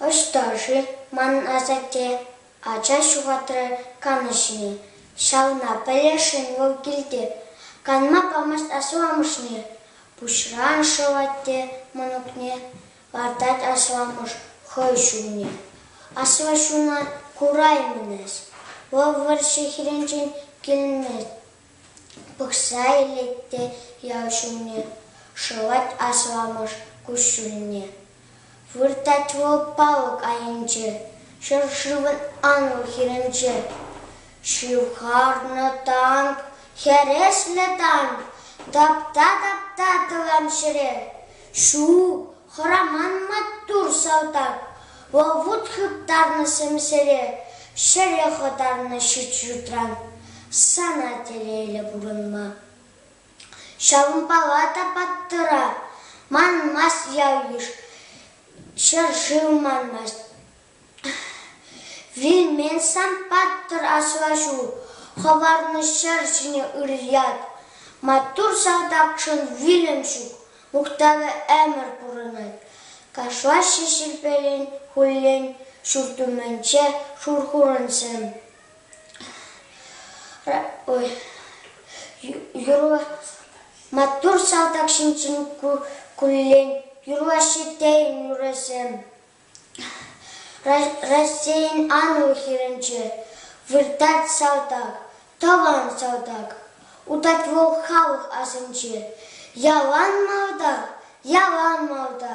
Ӑҫта-ши ман асатте? Ача ҫухатрӗ канӑҫне. Ҫавна пӗлесшӗн вӑл килте. Канма памасть асламӑшне. Пуҫран шӑвать те мӑнукне. Лартать асламӑш хӑй ҫумне. Аслӑ ҫуна кураймӑн-эс. Вӑл вӑрҫӑ хирӗнчен килнӗ пӑхса илет те ял ҫумне шӑвать асламӑш куҫҫульне. Выртать вӑл палӑк айӗнче, ҫӗршывӑн анлӑ хирӗнче. Ҫывхарнӑ танк, хӗреслӗ танк, тапта-тапта тӑван ҫӗре. Ҫу-у, хӑраман маттур салтак, вӑл-вут хыптарнӑ сӗмсӗре, ҫӗре хӑтарнӑ ҫут-ҫутран. Сана телейлӗ пурӑнма. Ҫавӑнпала та паттӑра манмасть ял-йыш, ҫӗр-шыв манмасть. Вилмен сан паттӑр аслаҫу, Хӑварнӑ ҫӗр ҫине ыр ят. Маттур салтакшӑн вилӗм ҫук, Мухтавӗ ӗмӗр пурӑнать. Кашлаҫҫӗ ҫилпелен хуллен ҫурт умӗнче шурхурӑнсем. Маттур салтак ҫинчен куллен, Юрлаҫҫӗ тейӗн нурасем. Раҫҫейӗн анлӑ хӗрӗнче выртать салтак, тӑван салтак. Утать вӑл халӑх асӗнче. Ялан малта, ялан малта.